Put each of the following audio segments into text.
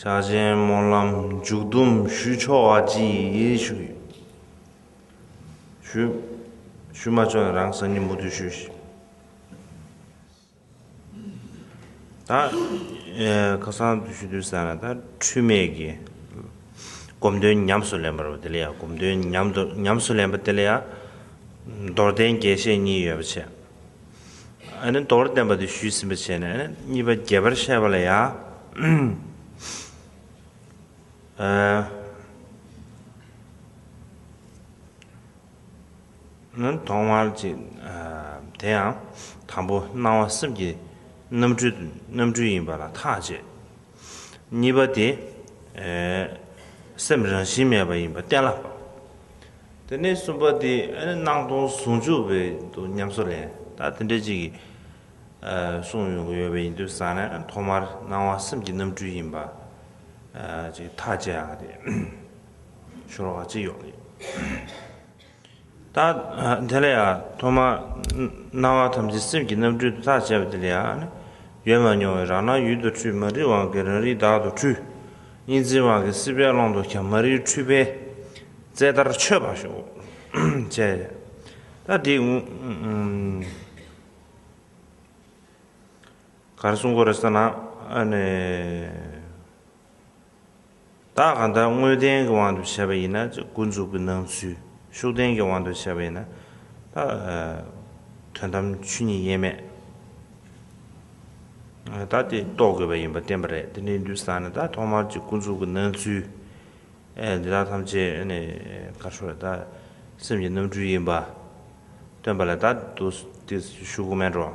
བྱ་གཞན་སྨོན་ལམ་མཇུག་བསྡོམ་ཞུས་ཆོག་བ་གྱིས་ཞུ། ཞུས་མ་ཆོག་ན་རང་སང་ཉིན་མུ་མཐུད་ཞུས། ད་ཁ་སང་དུས་ཞུས་དུས་བསམ་ན་ད་འཁྲུལ་མེད་ཀྱི་སྒོམ་དོན་ཉམས་སུ་ལེན་པར་བ་དེ་ལ་ཡང་སྒོམ་དོན་ཉམས་སུ་ལེན་པ་དེ་ལ་ཡང་མདོར་བསྟན་རྒྱས་བཤད་གཉིས་ཡོད་པ་བྱས། མདོར་བསྟན་པ་དེ་ཞུས་ཟིན་པ་བྱས་ནས་གཉིས་པ་རྒྱས་པར་བཤད་པ་ལ་ཡང། གདོང་མར་ཅིག། དེ་ཡང་དང་པོ་སྣང་བ་སེམས་ཀྱི་རྣམ་འཕྲུལ་ཡིན་པ་ལ་ཐག་བཅད། གཉིས་པ་དེ། སེམས་རང་བཞིན་མེད་པ་ཡིན་པ་གཏན་ལ་ཕབ། དེ་ནས་གསུམ་པ་དེ། སྣང་སྟོང་ཟུང་འཇུག་བས་འདུག་ཉམས་སུ་ལེན། ད་དེ་འདྲའི་ཅིག་གིས། གསུངས་ཡོང་གི་ཡོད་པ་ཡིན་དུས་བསམ་ན་ཐོག་མར་སྣང་བ་སེམས་ཀྱི་རྣམ་འཕྲུལ་ཡིན་པ། ཅིག་ཐག་བཅད་ཡག་དེ། ཤོར་བ་ཅི་ཡོད་རེད། རྟགས་དེ་ལ་ཡང་ཐོག་མར་སྣང་བ་ཐམས་ཅད་སེམས་ཀྱི་རྣམ་འཕྲུལ་དུ་ཐག་བཅད་པ་དེ་ལ་ཡང་ནི། ཡོད་མ་མྱོང་བའི་རང་སྣང་ཡུལ་དུ་འཁྲུལ་མ་རིག་དབང་གིས་རང་རིག་བདག་ཏུ་འཁྲུལ། གཉིས་འཛིན་དབང་གིས་སྲིད་པའི་ཀློང་དུ་ཁྱབ་མ་རིག་འཁྲུལ་པས། རྩལ་ལྟར་ཆོད་པར་ཤོག། ཅེས་རྟགས་འདི། གར་སོང་གོ་རེ་ས་ན། བདག་གང་དག་དངོས་བསྟན་གྱི་དབང་དུ་བྱས་པ་ཡིན་ན་ཀུན་རྫོབ་ཀྱི་སྣང་ཚུལ། ཤུགས་བསྟན་གྱི་དབང་དུ་བྱས་པ་ཡིན་ན། དོན་དམ་ཆོས་ཉིད་དབྱེར་མེད་དག་དེ་རྟོགས་དགོས་པ་ཡིན་པར་བསྟན་པ་རེད། དེ་འདྲའི་འདུས་བཟང་ནི་ཐོག་མར་གྱི་ཀུན་རྫོབ་ཀྱི་སྣང་ཚུལ། འདི་དག་ཐམས་ཅད་སེམས་ཀྱི་རྣམ་འཕྲུལ་ཡིན་པར་སྟོན་པ་ལ་བདག་དུ་སྟེ་ཤུགས་དམན་འགྲོ།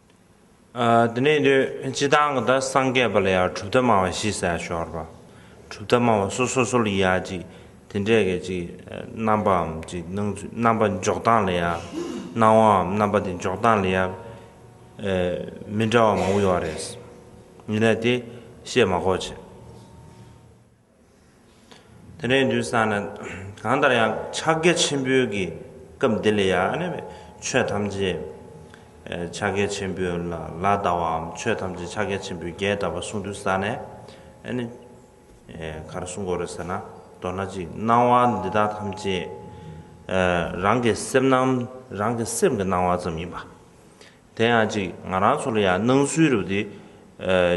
དེ་ནས་དུས་སྤྱི་དང་གི་དང་སངས་རྒྱས་པ་ལ་ཡང་གྲུབ་མཐའ་མང་བ་ཞི་ས་ཤོར་བ། གྲུབ་མཐའ་མང་བ་སོ་སོ་སོ་ལ་ཡང་ཅིག་དེ་འདྲའི་གི་ཅིག་རྣམ་པའམ་ཅིག་སྣང་ཚུལ་རྣམ་པ་འཇོག་སྟངས་ལ་ཡང་སྣང་བའམ་རྣམ་པ་དེ་འཇོག་སྟངས་ལ་ཡང་མི་འདྲ་བ་མང་བོ་ཡོད་རེད། ཡིན་ན་དེ་བཤད་མ་གོ་བྱེད། དེ་འདྲའི་འདུན་ས་ནི་གང་ལྟར་ཡང་ཕྱག་རྒྱ་ཆེན་པོའི་གི་སྐབས་འདི་ལས་ཡང་ནི་ཆོས་ཐམས་ཅད་ཕྱག་རྒྱ་ཆེན་པོའི་ལ་ལ་བཟླ་བའམ་ཆོས་ཐམས་ཅད་ཕྱག་རྒྱ་ཆེན་པོའི་རྒྱས་བཟླ་བ་གསུང་འདུན་ས་ནས་ནི་གར་གསུང་གོ་རེ་ཟེར་ན་མདོར་ན་ཅིག་སྣང་བ་འདི་དག་ཐམས་ཅད་རང་གི་སེམས་སྣང་རང་གི་སེམས་ཀྱི་སྣང་བ་ཙམ་ཡིན་པ། དེ་ཡང་ཅིག་ང་རང་ཚོ་ལ་ཡང་སྣང་ཚུལ་རུ་དེ་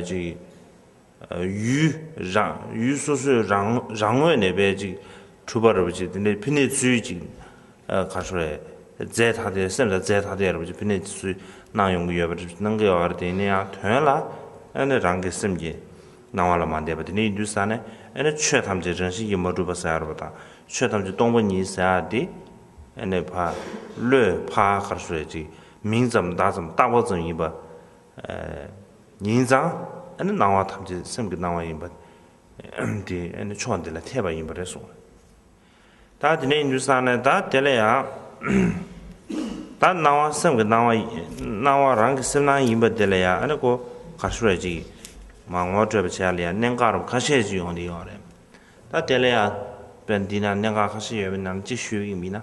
ཅིག། ཡུལ། ཡུལ་སོ་སོའི་རང་ངོས་ནས་བས་ཅིག་གྲུབ་པ་རེད་པ་ཅིག་དེ་འདྲའི་ཕན་ནུས་ཚུལ་ཅིག་ག་ཧྲོ་རེད། རྫས་ཐ་དད་སེམས་ལ་རྫས་ཐ་དད་རེད་པ་ཅིག་ཕན་ནུས་ཚུལ་སྣང་ཡོང་གི་ཡོད་པ་རེད་སྣང་གི་ཡོད་པ་དེ་ནི་ཡང་དོན་ལ་ཨ་ནི་རང་གི་སེམས་ཀྱི་སྣང་བ་ལ་མ་འདས་པ་དེ་འདྲ་ཡིན་དུས་ས་ནི་ཨ་ནི་ཆོས་ཐམས་ཅད་རང་བཞིན་གྱིས་མ་གྲུབ་པ་ཟེར་བ་དང་ཆོས་ཐམས་ཅད་སྟོང་པ་ཉིད་ཟེར་བ་དེ་ཨ་ནི་བ་བློས་བྷ་ག་ཧྲོ་རེད་ཅིག་མིང་ཙམ་བརྡ་ཙམ་བཏགས་པ་ཙམ་ཡིན་པ། ཉིན་བཟང། ཨ་ནི་སྣང་བ་ཐམས་ཅད་སེམས་ཀྱི་སྣང་བ་ཡིན་པ། དེ་ཨ་ནི་ཕྱོགས་འདི་ལ་འཐད་པ་ཡིན་པ་རེད་གསུངས། ད་དེ་ནས་ཉུལ་སང་ནས་ད་དེ་ལ་ཡང། ད་སྣང་བ་སེམས་ཀྱི་སྣང་བ། སྣང་བ་རང་གི་སེམས་སྣང་ཡིན་པ་དེ་ལ་ཡང་ཨ་ནི་གོ་ག་ཤོར་བས་ཅི། མ་ངོ་སྤྲོད་པ་བྱས་ལ་ཡང་གནད་འགག་རུ་ཁ་ཤས་ཅིག་ཡོང་དེ་ཡོད་རེད། ད་དེ་ལ་ཡང། དཔེར་འདི་ན་གནད་འགག་ཁ་ཤས་ཡོད་པའི་ནང་ཅིག་ཤོས་ཡིན་མིན་ན།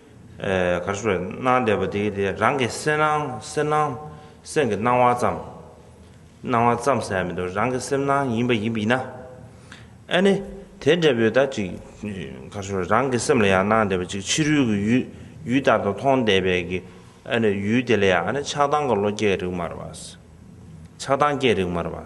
གར་སོང་བས་སྣང་བསྡད་པ་དེའི་དེ་རང་གི་སེམས་སྣང་སེམས་སྣང་སེམས་ཀྱི་སྣང་བ་ཙམ། སྣང་བ་ཙམ་ཟེར་ཡ་མི་འདུག་རང་གི་སེམས་སྣང་ཡིན་པ་ཡིན་པས་ན། ཨ་ནི། དེ་འདྲ་བོའི་ད་ཅིག་གར་སོང་བས་རང་གི་སེམས་ལ་ཡང་སྣང་བསྡད་པ་ཅིག་ཕྱི་རོལ་གྱི་ཡུལ་ཡུལ་ལྟར་དུ་མཐོང་བསྡད་པས་ཀྱི། ཨ་ནི་ཡུལ་དེ་ལ་ཡང་ཨ་ནི་ཆགས་སྡང་གི་བློ་སྐྱེ་རིགས་མར་བ། ཆགས་སྡང་སྐྱེ་རིགས་མར་བ།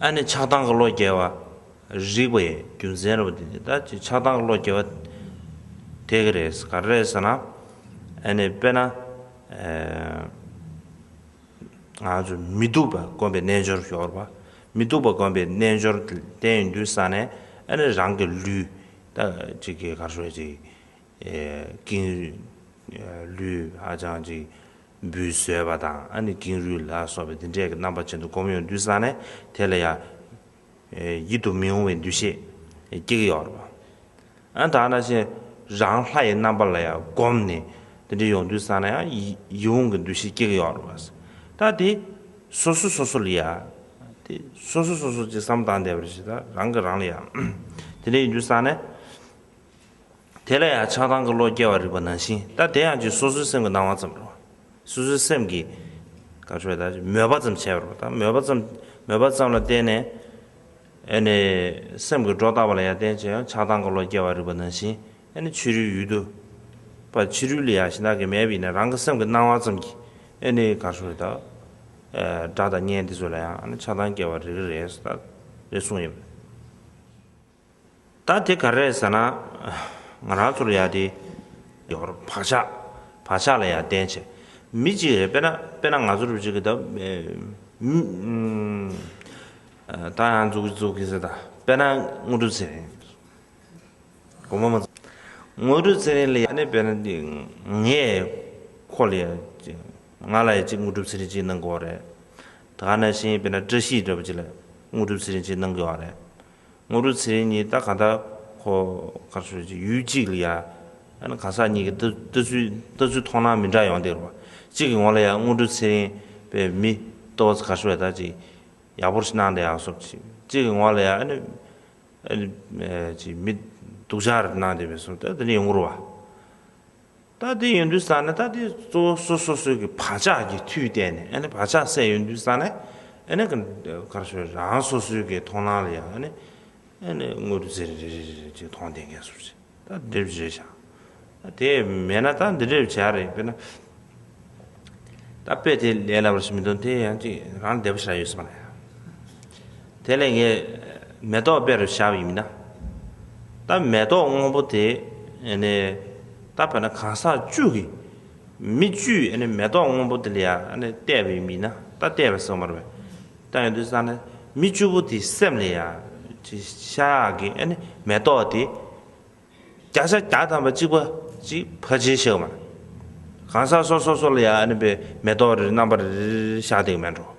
ཨ་ནི་ཆགས་སྡང་གི་བློ་རྒྱལ་བ། རིགས་པའི་རྒྱུ་མཚན་རེད་པ་འདི་འདི་ལྟར་ཆགས་སྡང་གི་བློ་རྒྱལ་བ། དེ་ག་རེད་ག་རེད་ཟེར་ན། ཨ་ནི་དཔེར་ན། ང་ཚོ་མི་སྡུག་པ་དཀོན་པའི་རྣལ་འབྱོར་ཞོར་པ། མི་སྡུག་པ་དཀོན་པའི་རྣལ་འབྱོར་བསྟན་ཡོད་དུས་ས་ནས་ཨ་ནི་རང་གི་ལུས། ད་ཅིག་གི་གར་སོས་ཅིག། ཀིང། ལུས་ཧ་ཅང་ཅིག། འབུལ་བཟོད་པ་དང་ཀེང་རུས་ལ་སོགས་པའི་འདི་འདྲས་ཀྱི་རྣམ་པ་ཅན་དུ་བསྒོམ་ཡང་དུས་སང་ནས་དེ་ལ་ཡང་ཡིད་དུ་མི་འོང་བའི་འདུ་ཤེས་སྐྱེ་གི་ཡོད་རེད། ཨ་དང་ན་ཅན་རང་ལྷ་ཡི་རྣམ་པ་ལ་ཡང་བསྒོམས་ནས་འདི་འདྲས་ཡོང་དུས་སང་ནས་ཡང་ཡིད་འོང་གི་འདུ་ཤེས་སྐྱེ་གི་ཡོད་རེད། ད་དེ་སོ་སོ་སོ་སོ་ལ་ཡང་དེ་སོ་སོ་སོ་སོ་ཅིག་བསམ་དང་བསྡད་པ་རེད་ཞེ་ད་རང་གི་རང་ལ་ཡང་དེ་འདྲས་ཡིན་དུས་སང་ནས། དེ་ལ་ཡང་ཆགས་སྡང་གི་བློ་སྐྱེ་བར་རིགས་པ་ནང་བཞིན་ལྟ་དེ་ཡང་རྒྱུ་སོ་སོའི་སེམས་ཀྱི་སྣང་བ་ཙམ་རོ། སོ་སོའི་སེམས་ཀྱི། ག་ཆོད་ད། མོས་པ་ཙམ་བྱས་པར་རོ་ད་མོས་པ་ཙམ། མོས་པ་ཙམ་ལ་བརྟེན་ནས། ཨེ་ནས། སེམས་ཀྱི་སྒྲོ་བཏགས་པ་ལ་ཡང་བརྟེན་ཅིང་ཆགས་སྡང་གི་བློ་སྐྱེ་བར་རིགས་པ་ནང་བཞིན་ཨེ་ནས་ཕྱི་རོལ་ཡུལ་དུ། པ་ཕྱི་རོལ་ལས་ཡང་གཞི་བདག་གི་མེད་པ་ཡིན་ན་རང་གི་སེམས་ཀྱི་སྣང་བ་ཙམ་གྱིས་ཨེ་ནས་ག་ཆོད་ད། སྒྲ་དང་བརྙན་འདི་ཚོ་ལ་ཡང་ཨེ་ནས་ཆགས་སྡང་སྐྱེ་བར་རིགས་རེད་ད་རེད་གསུངས་ཡོད། ད་དེ་ག་རེད་ཟེར་ན། ང་རང་ཚོར་ཡག་དེ། ཡོད་རེད། བག་ཆགས། བག་ཆགས་ལ་ཡང་བརྟེན་ཆེ། མི་གཅིག་རེད་དཔེར་ན། དཔེར་ན་ང་ཚོར་གཅིག་གི་ད། ད་ཡང་འཛུགས་ཀྱི་འཛུགས་ཀྱི་ཟེར་ད། དཔེར་ན་དངོས་གྲུབ་ཚེ་རིང། དགོངས་པ་མ། དངོས་གྲུབ་ཚེ་རིང་ལ་ཡང་ནི་དཔེར་ན་འདི། ངས། ཁོ་ལ་ཡང་གཅིག། ང་ལ་ཡང་གཅིག་དངོས་གྲུབ་ཚེ་རིང་གཅིག་གནང་དགོས་རེད། ད་ནང་བཞིན་དཔེར་ན་བཀྲ་ཤིས་སྒྲོལ་པ་གཅིག་ལ། དངོས་གྲུབ་ཚེ་རིང་གཅིག་གནང་དགོས་རེད། ངོ་རུ་ཚེ་རིང་གཉིས་ལྟ་ག་ད་ཁོ་གར་སོས་ཀྱི་ཡུལ་གཅིག་ལ་ཡ་ཨ་ནི་གང་ཟག་གཉིས་ཀྱི་ལྟ་ཚུལ་ལྟ་ཚུལ་མཐོང་སྣང་མི་འདྲ་ཡོང་སྟེ་རུ་བ་གཅིག་གི་ངོ་ལ་ཡ་ངོ་རུ་ཚེ་རིང་པས་མི་ལྟོ་བ་ཚ་གར་སོས་ད་ཅིག་ཡག་པོར་སྣང་སྟེ་ཡག་སོབ་ཅིག་གཅིག་གི་ངོ་ལ་ཡ་ཨ་ནི་ཨ་ནི་ཅིག་མི་སྡུག་ཅག་རེད་སྣང་སྟེ་བས་སོབ་ད་དེ་ནི་ཡོང་གི་རུ་བ། རྟ་དེ་ཡོད་འདུག་ས་ནི་རྟ་དེ་གཙོ་བོ་སོ་སོ་སོའི་གི་བག་ཆགས་ཀྱི་མཐུས་བརྟེན་ནས་ཨ་ནི་བག་ཆགས་སད་ཡོད་འདུག་ས་ནི་ཨ་ནི་གི་གར་སོའི་རང་སོ་སོའི་གི་མཐོང་སྣང་ལ་ཡང་ཨ་ནི་ཨ་ནི་དངོས་གྲུབ་ཟེར་རེ་རེ་རེ་རེ་ཅིག་མཐོང་བདེན་ཁས་སོ་ཅིག་རྟ་འདི་འདྲེ་བྱས་བྱས་བྱ། རྟ་དེ་མེད་ན་རྟ་འདི་འདྲེ་བྱས་རེད་དཔེར་ན། རྟ་དཔེ་དེ་ལས་ལ་བར་ཞིག་མི་འདུག་དེ་ཡང་ཅིག་རང་བདེ་པོ་བྱས་ཡོད་ས་མ་རེད། དེ་ལས་ངས་མེ་ཏོག་དཔེ་རུ་བཞག་པ་ཡིན་མིན་ན། ད་མེ་ཏོག་སྔོན་པོ་དེ་ནི་ད་བོད་ན་གང་ཟག་བཅུ་གི་མི་བཅུས་མེ་ཏོག་སྔོན་པོ་དེ་ལ་ཡང་བལྟས་པ་ཡིན་མིན་ན་ད་བལྟས་པ་སོང་མར་བས་ད་ཡོང་དུས་སང་ན་མི་བཅུ་པོ་དེའི་སེམས་ལ་ཡང་ཤ་ཡག་གི་མེ་ཏོག་དེ་བརྒྱ་ཆ་བརྒྱ་དང་བ་གཅིག་པ་ཅིག་ཕ་བྱེད་ཤེས་མ་གང་ཟག་སོ་སོ་སོ་ལ་ཡང་བའི་མེ་ཏོག་རེ་རེ་རྣམ་པ་རེ་རེ་བཞག་བསྡད་ཀྱི་མེད་འགྲོ།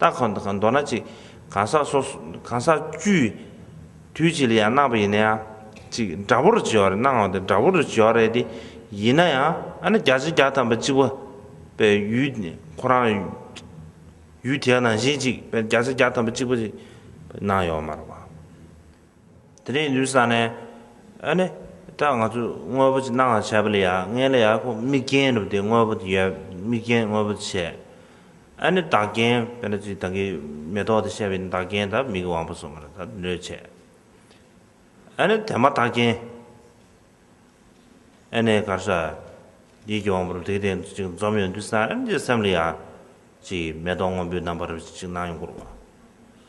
རྟགས་གང་དང་གང་མདོར་ན་ཅིག། གང་ཟག་སོ། གང་ཟག་བཅུའི། དུས་གཅིག་ལ་ཡང་སྣང་བ་ཡིན་ན་ཡང། ཅིག། འདྲ་བོར་བྱེད་བར་སྣང་ངོ། འདྲ་བོར་བྱེད་བར་རེད་དེ། ཡིན་ན་ཡང། ཨ་ན་བརྒྱ་བྱིན་བརྒྱ་ཐམ་པ་གཅིག་པ། པའི་ཡུལ། ཁོ་རང། ཡུལ་དེའི་ནང་བཞིན་ཅིག། བརྒྱ་བྱིན་བརྒྱ་ཐམ་པ་གཅིག་པ། ཅིག། ནང་ཡོད་མ་རེད་པ། དེ་རིང་འདུག་ས་ནས་ཨ་ནི་ད་ང་ཚོས་དངོས་པོ་ཅིག་སྣང་ལ་བྱས་པ་ལ་ཡང་ངས་ལ་ཡང་ཁོ་མིག་རྒྱན་བསྒྲུབས་ཏེ་དངོས་པོ་དེ་ཡར་མིག་རྒྱན་དངོས་པོ་བྱས། ཨ་ནི་བདག་རྐྱེན་དཔེར་ན་ཅིག་ད་གིན་མེ་ཏོག་དེ་བཤད་པའི་བདག་རྐྱེན་ད་མིག་གི་དབང་པོ་སོ་མ་རེད་ད་འདོད་བྱས། ཨ་ནི་དེ་མ་བདག་རྐྱེན། ཨ་ནི་གར་ས། ཡིད་ཀྱི་དབང་པོ་རུ་དེ་སྟེང་དུ་ཅིག་འཛོམས་ཡོད་འདུག་ས་ཨ་ནི་ཅིག་སེམས་ལ་ཡང། ཅིག་མེ་ཏོག་སྔོན་པོའི་རྣམ་པ་རུ་ཅིག་སྣང་ཡོང་སྐོར་བ།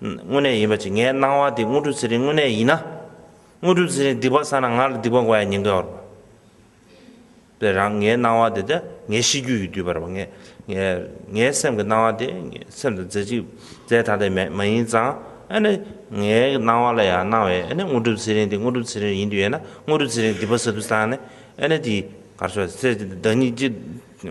དངོས་གནས་ཡིན་པ་ཅི་ངའི་སྣང་བ་དེ་དངོས་གྲུབ་ཚེ་རིང་དངོས་གནས་ཡིན་ན། དངོས་གྲུབ་ཚེ་རིང་སྡིག་པ་བསགས་ན་ང་ལ་སྡིག་པ་འགོ་ཡ་ཉེན་ཀ་བར་པ། དེ་རང་ངའི་སྣང་བ་དེ་དེ་ངའི་གཤིས་རྒྱུད་ཀྱི་བསྡུས་པར་པ་ངས་ངའི་ངའི་སེམས་ཀྱི་སྣང་བ་དེ་སེམས་དང་རྫས་གཅིག་རྫས་ཐ་དད་མེད་མ་ཡིན་ཙང་ཨ་ནི་ངའི་སྣང་བ་ལ་ཡང་སྣང་བས་ཨ་ནི་དངོས་གྲུབ་ཚེ་རིང་དེ་དངོས་གྲུབ་ཚེ་རིང་ཡིན་དུས་ཡོད་ན་དངོས་གྲུབ་ཚེ་རིང་སྡིག་པ་བསགས་དུས་སང་ནི་ཨ་ནི་དེ་གར་ཤོག་ཚེ་བདག་ཉིད་ཀྱི།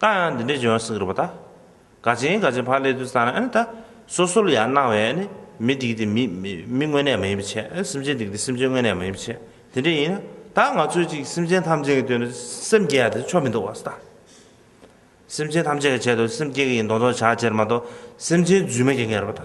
ད་ཡང་འདི་འདྲའི་འཇོན་སེང་རི་པོ་ད། དགའ་ཆེན་དགའ་ཆེན་ཕ་ལས་དུས་ད་ནི་ད། སོ་སོ་ལ་ཡང་སྣང་བས་ནི་མི་སྡིག་སྟེ་མི། མི་དངོས་གནས་མ་ཡིན་པའི་ཕྱིར། སེམས་ཅན་སྡིག་སྟེ་སེམས་ཅན་དངོས་གནས་མ་ཡིན་པའི་ཕྱིར། དེ་འདྲ་ཡིན་ན། ད་ང་ཚོས་གཅིག་སེམས་ཅན་ཐམས་ཅད་ཀྱི་དོན་དུ་སེམས་བསྐྱེད་ཡ་དེ་ཆོ་མི་འདུག་བ་ད། སེམས་ཅན་ཐམས་ཅད་ཀྱི་ཆེད་དུ་སེམས་བསྐྱེད་ཀྱི་ཡིན་མདོག་མདོག་བྱ་ཕྱིར་མ་གཏོགས་སེམས་ཅན་རྫུན་མ་བསྐྱེད་མཁན་རེད་བ་ད།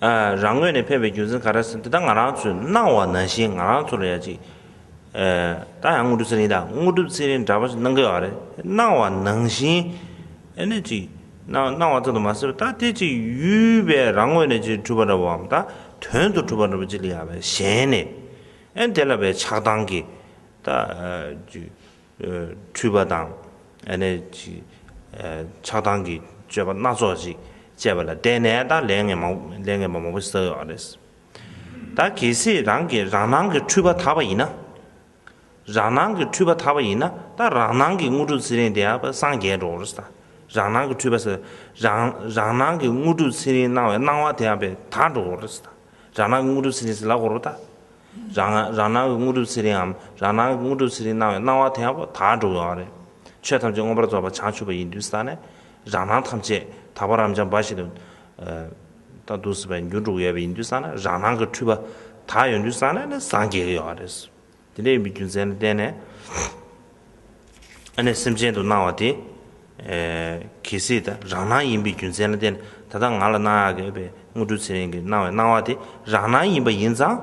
རང་ངོས་ནས་ཕེབས་པའི་རྒྱུ་མཚན་ག་རེ་ཟིན་འདི་དག་ང་རང་ཚོས་གནང་བ་ནང་བཞིན་ང་རང་ཚོར་ཡ་གཅིག་ད་ཡང་དངོས་གྲུབ་ཚེ་རིང་དང་དངོས་གྲུབ་ཚེ་རིང་འདྲ་པོ་ཞིག་གནང་གི་ཡོད་རེད་གནང་བ་ནང་བཞིན་ཨེ་ནས་ཅིག་གནང་བ་ཙམ་དུ་མ་ཟད་པ་ད་དེ་ཅིག་ཡུལ་བས་རང་ངོས་ནས་ཅིག་གྲུབ་པ་འདྲ་བོའམ་ད་དོན་དུ་གྲུབ་པ་འདྲ་བོ་ཅིག་ལ་ཡ་བས་གཞན་ནས་ཨེ་དེ་ལ་བས་ཆགས་སྡང་གིས་ད་ཅིག། འཁྲུལ་པ་དང། ཆགས་སྡང་གི་སྤྱོད་པ་སྣ་ཚོགས་ཅིག་སྤྱད་པ་ལ་བརྟེན་ནས་ད་ལས་ངན་པ་མང་པོ་བསགས་ཡོད་རེད། ད་གལ་སྲིད་རང་གི་རང་སྣང་གི་འཁྲུལ་པ་དག་པ་ཡིན་ན། རང་སྣང་གི་འཁྲུལ་པ་དག་པ་ཡིན་ན་ད་རང་སྣང་གི་དངོས་གྲུབ་ཚེ་རིང་དེ་ཡང་སངས་རྒྱས་འགྲོ་རེད་ད། རང་སྣང་གི་འཁྲུལ་པ་རང་སྣང་གི་དངོས་གྲུབ་ཚེ་རིང་སྣང་བའི་སྣང་བ་དེ་ཡང་དག་འགྲོ་རེད་ད། རང་སྣང་གི་དངོས་གྲུབ་ཚེ་རིང་ཟིལ་ལ་བསྐོར་བ་ད། རང་སྣང་གི་དངོས་གྲུབ་ཚེ་རིངའམ་རང་སྣང་གི་དངོས་གྲུབ་ཚེ་རིང་སྣང་བའི་སྣང་བ་དེའང་བ་དག་འགྲོ་འོང་བ་རེད། ཆོས་ཐམས་ཅད་མངོན་པར་རྫོགས་པ་བྱང་ཆུབ་པ་ཡིན་དུས་ས་ནས་རང་སྣང་ཐམས་ཅད་དག་པ་རབ་འབྱམས་འབའ་ཞིག་ཏུ་འདུག་སྲིད་པ་ཡིན་རྒྱུར་འགྲོ་གི་ཡོད་པ་ཡིན་དུས་ས་ན་རང་སྣང་གི་འཁྲུལ་པ་དག་ཡོད་དུས་ས་ནས་ནི་སངས་རྒྱས་ཀྱི་ཡོད་པ་རེད། དེ་འདྲ་ཡིན་པའི་རྒྱུ་མཚན་ལ་བརྟེན་ནས། ཨ་ནེ་སེམས་ཅན་དུ་སྣང་བ་དེ། གལ་སྲིད་ད་རང་སྣང་ཡིན་པའི་རྒྱུ་མཚན་ལ་བརྟེན་ནས་ད་ལྟ་ང་ལ་སྣང་ཡང་གལ་བའི་དངོས་གྲུབ་ཚེ་རིང་གི་སྣང་བའི་སྣང་བ་དེ་རང་སྣང་ཡིན་པ་ཡིན་ཙང།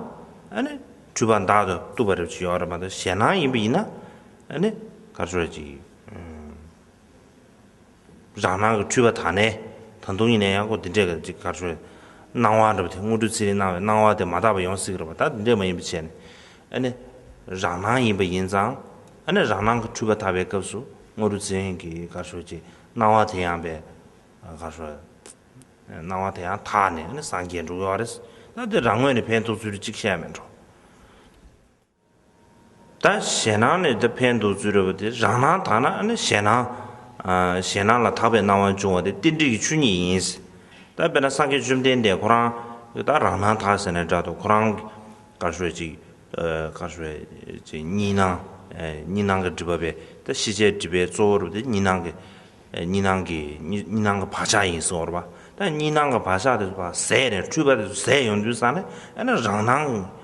ཨ་ནེ་འཁྲུལ་པ་འདག་ཏུ་བཏུབ་པ་རེ་བ་ཅིག་ཡོད་རེད་མ་གཏོགས་གཞན་སྣང་ཡིན་པ་ཡིན་ན། ཨ་ནེ་དགའ་ཆོག་ཅིག། རང་སྣང་གི་འཁྲུལ་པ་དག་ནས། ད་དུང་ཡིན་ན་ཡང་ཀོ་འདི་འདྲས་ཀྱི་ཅིག་གར་ཤོར། སྣང་བ་འདྲ་བ་དེ་དངོས་གྲུབ་ཚེ་རིང་སྣང་བའི་སྣང་བ་དེ་མ་དག་པ་ཡོང་སྲིད་ཀྱི་རེད་པ་ད་འདི་འདྲས་མ་ཡིན་པའི་ཆད་ནས། ཨ་ནི། རང་སྣང་ཡིན་པ་ཡིན་ཙང། ཨ་ནི་རང་སྣང་གི་འཁྲུལ་པ་དག་པའི་སྐབས་སུ་དངོས་གྲུབ་ཚེ་རིང་གི་གར་ཤོར་གྱི་སྣང་བ་དེ་ཡང་པའི་གར་ཤོར། སྣང་བ་དེ་ཡང་དག་ནས་ཨ་ནི་སངས་རྒྱས་འགྲོ་གི་ཨ་རེད། ད་འདི་རང་ངོས་ནས་ཕན་ཐོགས་ཚུལ་ཅིག་བཤད་མི་འགྲོ། ད་གཞན་སྣང་ནས་དེ་ཕན་འདོགས་ཚུལ་རེད་པ་དེ་རང་སྣང་དག་ན་ནི་གཞན་སྣང། གཞན་སྣང་ལ་དག་པའི་སྣང་བ་འབྱུང་བ་དེ་རྟེན་འབྲེལ་གྱི་ཆོས་ཉིད་ཡིན། ད་དཔེར་ན་སངས་རྒྱས་བཅོམ་ལྡན་འདས་ཁོ་རང་གིས་ད་རང་སྣང་དག་ཟེར་ནས་སྒྲ་དང་ཁོ་རང་གི་ཀར་ཤོད་ཅིག་ཀར་ཤོད་ཅིག་གཉིས་སྣང། གཉིས་སྣང་གི་སྒྲིབ་པ་བས་ད་ཤེས་བྱའི་སྒྲིབ་པའི་གཙོ་བོ་རེད་པ་དེ་གཉིས་སྣང་གི་གཉིས་སྣང་གི་གཉིས་སྣང་གི་བག་ཆགས་ཡིན་ཟེར་བ་རེད་པ། ད་གཉིས་སྣང་གི་བག་ཆགས་དེ་ཚོ་བ་ཟད་ནས་འཁྲུལ་པ་དེ་ཚོ་ཟད་ཡོང་དུས་ས་ནི་ཨ་ན་རང་སྣང།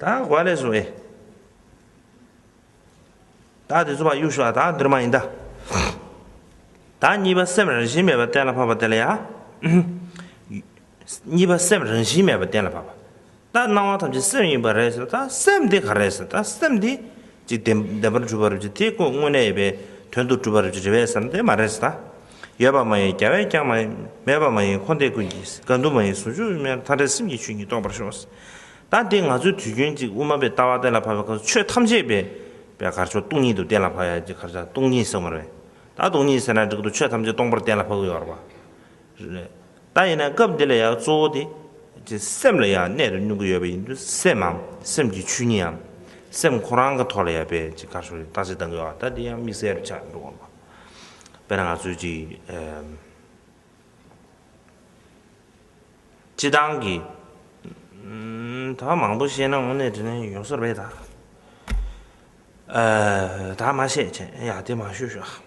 ད་གོ་ལས་སུ་ཨེ། ད་དེ་ཚོ་བ་གཡུག་ཤོག་ད་འདིར་མ་ཡིན་ད། ད་གཉིས་པ་སེམས་རང་བཞིན་མེད་པ་གཏན་ལ་ཕབ་པ་དེ་ལ་ཡ། གཉིས་པ་སེམས་རང་བཞིན་མེད་པ་གཏན་ལ་ཕབ་པ། ད་སྣང་བ་ཐམས་ཅད་སེམས་ཡིན་པ་རེད་ཟེར་ད་སེམས་དེ་ག་རེད་ཟེར་ད་སེམས་དེ་ཅིག་བདེན་བདེན་པར་གྲུབ་པར་རིག་བྱེད་དེ་ཀུན་དངོས་གནས་ཡོད་པའི་དོན་དུ་གྲུབ་པར་རིག་བྱེད་རེ་བས་སམ་དེ་མ་རེད་ད། ཡོད་པ་མ་ཡིན་རྒྱ་བས་ཀྱང་མ་ཡིན་མེད་པ་མ་ཡིན་འཁོར་འདས་ཀུན་གྱི་དགའ་འདུན་མ་ཡིན་ཟུང་འཇུག་དབྱིངས་མཐའ་བྲལ་སེམས་ཀྱི་ཆོས་ཉིད་རྟོགས་པར་ཤོག། ད་འདི་ང་ཚོའི་དུས་རྒྱུན་ཅིག་དབུ་མ་པའི་ལྟ་བ་གཏན་ལ་ཕབ་པའི་སྐབས་སུ་ཆོས་ཐམས་ཅད་པའི་པའི་གར་ཆོག་སྟོང་ཉིད་དུ་གཏན་ལ་ཕབ་ཡ་ཅིག་གར་ཆག་སྟོང་ཉིད་ཟེར་མ་རེད་ད། སྟོང་ཉིད་ཟེར་ན་འགྲིག་འདུག་ཆོས་ཐམས་ཅད་སྟོང་པར་གཏན་ལ་ཕབ་དགོས་པ་རེད། རེད། ད་ཡིན་ན་སྐབས་འདི་ལ་ཡང་གཙོ་བོ་དེ། ཅེས་སེམས་ལ་ཡང་གནད་དུ་བསྣུན་གྱི་ཡོད་པ་ཡིན་དུས་སེམས་འམ་སེམས་ཀྱི་ཆོས་ཉིད་འམ། སེམས་ཁོ་རང་གི་ཐོག་ལ་ཡང་བེད་ཅིག་དཀར་ཕྱོགས་རེ་བཏགས་ཅིག་བཏང་གི་ཡོད་ད་དེ་ཡང་དམིགས་བསལ་རུ་ཆགས་འགྲོ་བ་མ། དཔེར་ན་ང་ཚོས་ཅིག། སྤྱི་བཏང་གི། ད་མང་པོ་བཤད་ན་དངོས་གནས་དྲིས་ན་ཡོད་སར་བས་ད། ད་མ་བཤད་བྱས་ཡ་དེ་མ་ཤོད་ཤོག་ཨ།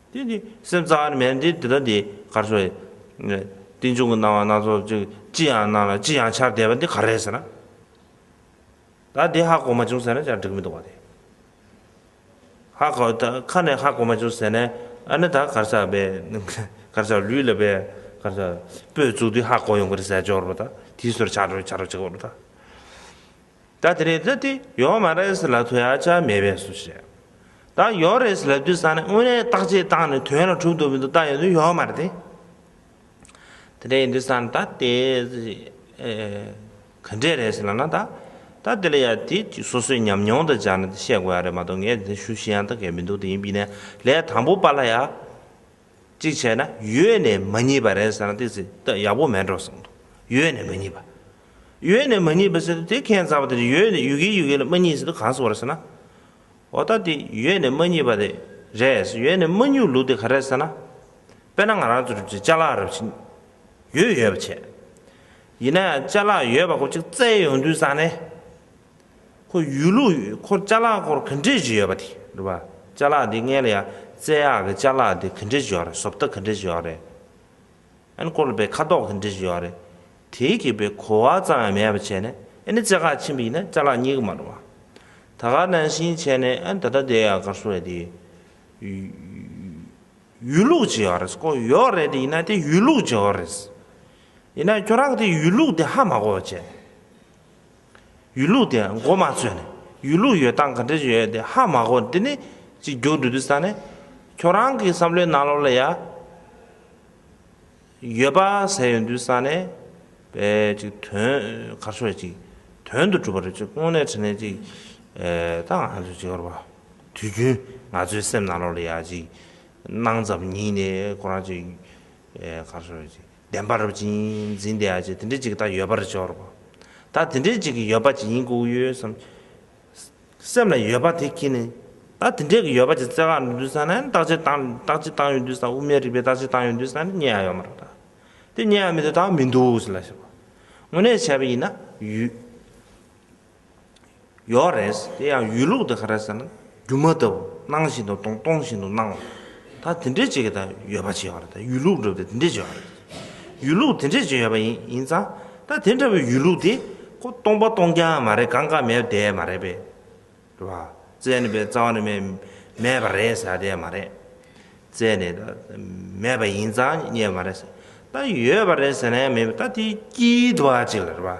དེ་ནི་སེམས་རྩ་བར་མེད་དེ་འདི་དང་འདི་གར་སོང་བས། རྟེན་འབྱུང་གི་སྣང་བ་སྣ་ཚོགས་ཅིག་ཅི་ཡང་སྣང་ལ་ཅི་ཡང་འཆར་བསྡད་པ་འདི་ག་རེད་ཟེར་ན། ད་དེ་ཧ་གོ་མ་བྱུང་ཟེར་ན་ཅང་འགྲིག་མི་འདུག་བ་དེ། ཧ་གོ་ད་ཁ་ནས་ཧ་གོ་མ་བྱུང་ཟེར་ན་ཨ་ནི་ད་གར་སར་བས་གར་སར་ལུས་ལ་བས་གར་སར་སྤོས་བཙུགས་དུས་ཧ་གོ་ཡོང་གི་རེད་ཟེར་ཇོག་རོགས་ད་དེའི་སོར་ཆགས་རོགས་ཆགས་རོགས་བྱེད་གོ་རོགས་ད། ད་དེ་རེད་ད་དེ་ཡོད་མ་རེད་ཟེར་ལ་དོན་ཡག་ཅག་མེད་པས་སུ་བཤད། ད་ཡོད་རེད་ཟེར་ལ་དུས་སང་ནས་དངོས་གནས་བརྟག་དཔྱད་བཏང་ནས་དོན་ལ་གྲུབ་འདུག་མི་འདུག་ད་ཡོད་དུ་ཡོད་མ་རེད་དེ། དེ་འདྲས་ཡིན་དུས་སང་ད་དེ་ག་འདྲས་རེད་ཟེར་ལ་ན་ད་ད་དེ་ལ་ཡག་དེ་ཅིག་སོ་སོའི་ཉམས་མྱོང་དང་སྦྱར་ནས་དེ་བཤད་དགོས་ཡག་རེད་མ་གཏོགས་ངས་དེ་ཞུ་ཤེས་ཡང་ད་གལ་མི་འདུག་དེ་ཡིན་པིན་ནས་ལས་དང་པོ་པ་ལ་ཡག། གཅིག་བྱས་ན་ཡོད་ནས་མ་རྙེད་པ་རེད་ཟེར་ན་དེ་ཚེ་ད་ཡག་པོ་མེད་འགྲོ་གསུངས་འདུག་ཡོད་ནས་མ་རྙེད་པ། ཡོད་ནས་མ་རྙེད་པ་ཟེར་ན་དེ་ཁྱེད་རྩ་བ་དེ་ཡོད་ནས་ཡོད་གི་ཡོད་གི་ལ་མ་རྙེད་ཟེར་དུ་གང་གསུངས་རེད་ཟེར་ན། འོ་ད་དེ་ཡོད་ནས་མ་རྙེད་པ་དེ་རེད་ཡོད་ནས་མ་རྙེད་ལུགས་དེ་ག་རེད་ཟེར་ན། དཔེར་ན་ང་རང་ཚོ་རུ་ཆེ་ལྕགས་ལག་རུ་ཆེ་ཡོད་ཡོད་པ་བྱས། ཡིན་ན་ཡང་ལྕགས་ལག་ཡོད་པ་ཁོ་ཅིག་བཙལ་ཡོང་དུས་བསམ་ནས། ཁོ་ཡུལ་ལུགས་ཡུལ་སྐོར་བཅའ་ལག་སྐོར་གི་འགྲེལ་བྱེད་ཡོད་པ་དེ་རེད་བ། བཅའ་ལག་འདི་ངས་ལ་ཡ་རྩེ་ཡག་གི་བཅའ་ལག་འདི་གི་འགྲེལ་བྱེད་ཡོད་རེད་བཟོ་ལྟ་གི་འགྲེལ་བྱེད་ཡོད་རེད། ཨ་ནི་སྐོར་ལ་པའི་ཁ་དོག་གི་འགྲེལ་བྱེད་ཡོད་རེད། དེའི་གི་པའི་གོ་བ་ཙམ་ཡང་མེད་པ་བྱས་ནས་ཨ་ནི་རྩེ་ཁག་ཕྱིན་པ་ཡིན་ན་བཅའ་ལག་གཉིས་ཀྱི་མ་རེད་བ། ད་ག་ནང་བཞིན་བྱས་ནས་ཨ་ནི་ད་ལྟ་འདི་ཡ་གར་སོ་རེད་དེ། ཡུལ་ལུགས་བྱེད་ཡོད་རེད་སྐོར་ཡོད་རེད་དེ་ཡིན་ན་དེ་ཡུལ་ལུགས་བྱེད་ཡོད་རེད། ཡིན་ན་ཁྱོད་རང་གི་དེ་ཡུལ་ལུགས་དེ་ཧ་མ་གོ་བ་བྱས་ནས། ཡུལ་ལུགས་དེ་མགོ་མ་ཚོས་ནས་ཡུལ་ལུགས་ཡོད་སྟངས་ག་འདྲ་ཞིག་ཡོད་དེ་ཧ་མ་གོ་འདི་ནི་གཅིག་རྒྱུགས་འབྲུ་དུ་ས་ནས་ཁྱོད་རང་གི་བསམ་བློའི་ནང་ལོགས་ལ་ཡ་ཡོད་པ་ཟེར་ཡོད་འདུག་ས་ནས་པའི་གཅིག་དོན་གར་ཆོ་ཡ་གཅིག་དོན་དུ་གྲུབ་པ་རེད་ཅིག་སྔོན་ནས་དྲན་ནས་ཅིག་ད་ང་ཚོས་ཅིག་ཧོར་བ་དུས་རྒྱུན་ང་ཚོའི་སེམས་ནང་ལོགས་ལ་ཡ་ཅིག་སྣང་ཙམ་ཉིད་ནས་ཁོ་རང་ཅིག་གར་ཆོ་ཡ་ཅིག། བདེན་པ་རབ་འབྱིན་འཛིན་དེ་ཨ་ཅེ་དེ་འདྲའི་ཅིག་ད་ཡོད་པར་སྦྱོར་བ། ད་དེ་འདྲའི་ཅིག་གི་ཡོད་པ་ཅི་ཡིན་ཀུ་ཡོད་བསམ། སེམས་ལ་ཡོད་པ་དེ་ཁྱེད་ནི། ད་དེ་འདྲའི་གི་ཡོད་པ་ཅི་བཙལ་གང་འདུས་ས་ན་ཡང་རྟགས་ཅིག་དང་རྟགས་ཅིག་དང་ཡོད་འདུས་ས་དབུ་མའི་རིགས་པའི་རྟགས་ཅིག་དང་ཡོད་འདུས་ས་ནི་རྙེད་ཡ་ཡོད་མ་རེད་ད། དེ་རྙེད་ཡ་མེད་དུ་ད་མི་འདུག་ལ་ཞེས་པ། དངོས་གནས་བྱས་པ་ཡིན་ན་ཡུད། ཡོད་རེད། དེ་ཡང་ཡུལ་ལུགས་དེ་ག་རེད་ཟེར་ན་སྒྱུ་མ་ལྟ་བུ་སྣང་བཞིན་དུ་སྟོང་སྟོང་བཞིན་དུ་སྣང་བ། ད་དེ་འདྲའི་བྱེད་ཀྱི་ད་ཡོད་པ་བྱེད་པ་རེད་ཡུལ་ལུགས་འགྲུབ་སྟེ་དེ་འདྲའི་བྱེད་པ་རེད། ཡུལ་ལུགས་དེ་འདྲའི་བྱེད་ཡོད་པ་ཡིན་ཡིན་ཙང་ད་དེ་འདྲ་བའི་ཡུལ་ལུགས་དེ་ཁོ་སྟོང་པ་སྟོང་རྐྱང་མ་རེད་གང་གང་མེད་པ་དེ་མ་རེད་པས། རེད་པ། བཙལ་ནས་པས་རྩ་བ་ནས་མེད་མེད་པ་རེད་ཟེར་དེ་མ་རེད། བཙལ་ནས་ད་མེད་པ་ཡིན་ཙང་རྙེད་པ་མ་རེད། ད་ཡོད་པ་རེད་ཟེར་ན་ཡང་མེད་པས་ད་དེའི་དཀྱིལ་དུ་བ་ཅིག་ལ་རེད་པ།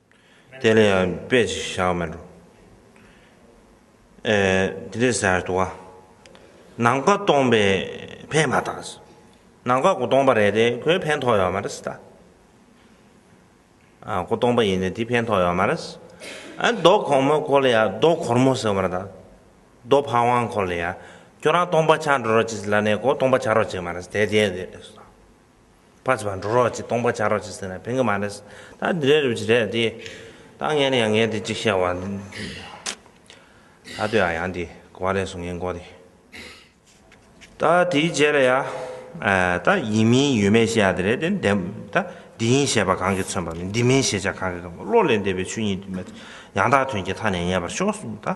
དེ་ལས་ཡང་དཔེ་ཅིག་བྱ་བ་མི་འགྲོ། དེ་ལས་ཟེར་ཏོ། ནང་པ་སྟོང་པས་ཕན་མ་ཐག་ཟེར། ནང་པ་གོ་སྟོང་པ་རེད་དེ་ཁོས་ཕན་ཐོགས་ཡོད་མ་རེད་ད། གོ་སྟོང་པ་ཡིན་ནས་དེ་ཕན་ཐོགས་ཡོད་མ་རེད། རྡོ་གོར་མོ་གོ་ལ་ཡ་རྡོ་གོར་མོ་ཟེར་བ་རེད་ད། རྡོ་ཕ་ཝང་གོ་ལ་ཡ་ཁྱོད་རང་སྟོང་པ་ཆགས་འགྲོ་རོགས་གྱིས་ལ་ནས་གོ་སྟོང་པ་ཆགས་རོགས་བྱས་མ་རེད་དེ་དེ་རེད། པ་ཅི་བ་འགྲོ་རོགས་ཅིག་སྟོང་པ་བྱ་རོགས་ཅིག་ཟེར་ན་ཕན་གི་མ་རེད། ད་འདི་རེད་རེད་ཅིག་རེད་དེ། ད་ངས་ནི་ཡང་ངས་དེ་ཅིག་བཤད་བ། ད་དུ་ཡང་ཡང་དེ་གོ་བ་རེད་སོང་ངས་མགོ་དེ། ད་དེའི་རྗེས་ལ་ཡང། ད་ཡིན་མིན་ཡོད་མེད་བཤད་ཡ་དེ་རེད་དེ། ད་འདི་ཡིན་ཞེས་པ་གང་གིས་མཚོན་པ་མིན་འདི་མིན་ཞེས་བྱ་གང་གིས་མཁོ་བློ་ལས་འདས་པའི་ཆོས་ཉིད་དུ་མེད་དེ། ཡང་དག་དོན་གྱི་མཐའ་ནས་ངེས་པར་ཤོག་གསུངས་ད།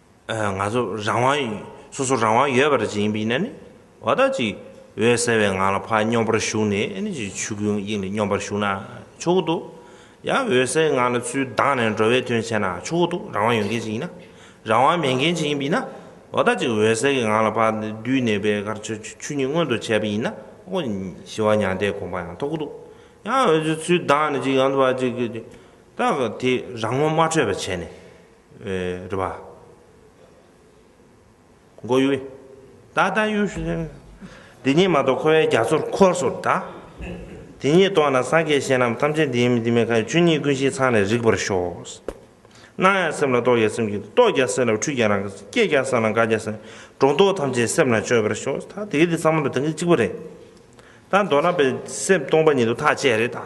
ང་ཚོ་རང་དབང་ཡོད། སོ་སོར་རང་དབང་ཡོད་པ་རེད་ཅེས་ཡིན་པའི་ཡིན་ན་ནི། བ་ད་ཅིག་འོད་གསལ་བའི་ངང་ལ་ཕ་སྙོམས་པར་ཞུགས་ནས་ནི་ཅིག་ཆོས་སྐུའི་དབྱིངས་ལས་སྙོམས་པར་ཞུགས་ན་ཆོག་གི་འདུག། ཡང་འོད་གསལ་ངང་ལ་ཚུལ་ལྡང་ནས་འགྲོ་བའི་དོན་བྱས་ན་ཆོག་གི་འདུག་རང་དབང་ཡོད་མཁན་ཞིག་ཡིན་ན། རང་དབང་མེད་མཁན་ཞིག་ཡིན་པ་ཡིན་ན། བ་ད་ཅིག་འོད་གསལ་གྱི་ངང་ལ་ཕ་བདུད་ནད་པའི་ཁར་ཆོས་ཆོས་ཉིད་མངོན་དུ་བྱས་པ་ཡིན་ན། ཨོ། ཞི་བ་མྱང་འདས་དགོངས་པ་ཡང་ཐོབ་གི་འདུག། ཡང་འོད་གསལ་ཚུལ་ལྡང་ནས་ཅིག་ཡང་བ་ཅིག། ད་དེ་རང་ངོ་མ་འཕྲོད་པར་བྱས་ནས། རེད་པ། མགོ་ཡུ། ད་ལྟ་ཡུ། འདི་གཉིས་མ་གཏོགས་ཁོ་བའི་རྒྱ་མཚོར་ཁོར་སོ་གདའ། དེ་གཉིས་གཏོགས་ན་སངས་རྒྱས་གཞན་རྣམས་ཐམས་ཅད་འདི་ཡིན་མིན་འདི་མིན་ཁ་ཡོད་ཆོས་ཉིད་ཀུན་གཞི་ཚང་ནས་རིག་པར་ཤོག། སྣང་ཡང་སེམས་ལ་རྟོག་ཀྱང་སེམས་ཀྱིས་རྟོག་ཀྱང་སེམས་ལ་འཁྲུལ་ཀྱང་རང་སྐྱེས་ཀྱང་སེམས་ལ་འགག་ཀྱང་སེམས་སྒྲོ་འདོགས་ཐམས་ཅད་སེམས་ལ་གཅོད་པར་ཤོག་ད་དེ་གི་དེ་ཚང་མ་ལ་དེང་གི་གཅིག་པ་རེད་ད་མདོར་ན་པའི་སེམས་སྟོང་པ་ཉིད་དུ་ཐག་བཅད་རེད་ད།